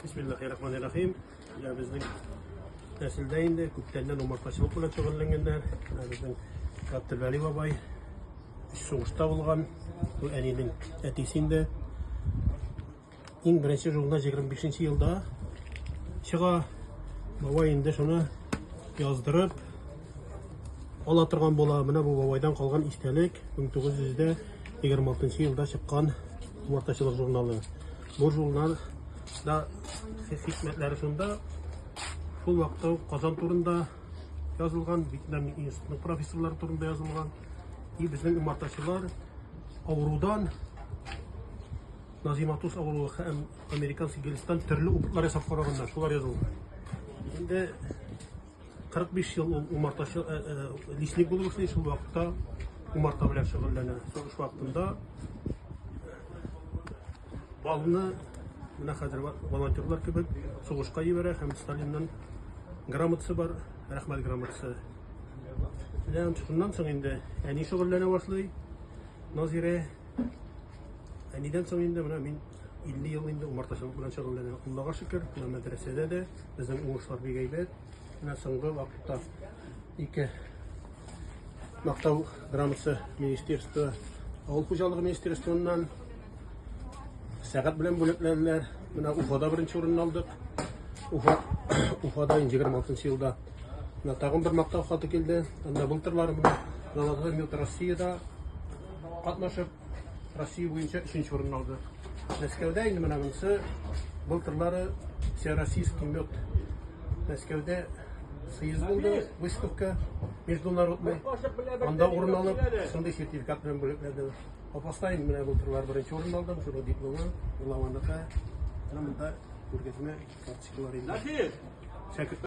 Бисмиллахи-рахмани-рахим. Менә безнең нәселдә инде күптәннән умартачылык белән шөгыльләнгәннәр. Менә безнең Габделвәли бабай сугышта булган. Бу әнинең әтисе инде. Иң беренче журнал 25 елда чыга. Бабай инде шуны яздырып ала торган була. Менә бу бабайдан калган истәлек 1926 елда чыккан умартачылык журналы. Бу журнал да хикмәтләре шунда, шул вакытта ук Казан турында язылган, Вьетнам институтының профессорлары турында язылган. И безнең умартачылар авырудан Назиматус авыруы һәм американский гелстан төрле опытлар ясап караганнар, шулар язылган. Инде 45 ел ул умартачы, э, э, лесник булып эшли, шул вакытта умарта белән шөгыльләнә. Сугыш вакытында балны менә хәзер волонтерлар кебек сугышка җибәрә һәм Сталиннан грамотасы бар, рәхмәт грамотасы. Менә шуннан соң инде әни шөгыльләнә башлый. Назирә әнидән соң инде менә мин 50 ел инде умартачылык белән шөгыльләнә. Аллага шөкер, менә мәдрәсәдә дә безнең уңышлар бик әйбәт. Менә соңгы вакытта ике мактау грамотасы министерство, авыл хуҗалыгы министерствыннан сәгать белән бүләкләделәр. Менә Уфада беренче урынны алдык. Уфа Уфада 26 елда. Менә тагын бер мактау хаты килде. Анда былтырлар менә Россиядә катнашып Россия буенча өченче урынны алды. Мәскәүдә инде менә монысы былтырлары всероссийский мед Мәскәүдә съезд булды, выставка международный. Анда урын алып, шундый сертификат белән бүләкләде. Апаста инде менә былтырлар беренче урын алдым, шуның дипломы, Лавандыка. Менә монда күргәзмә карточкалар инде. Шәкерт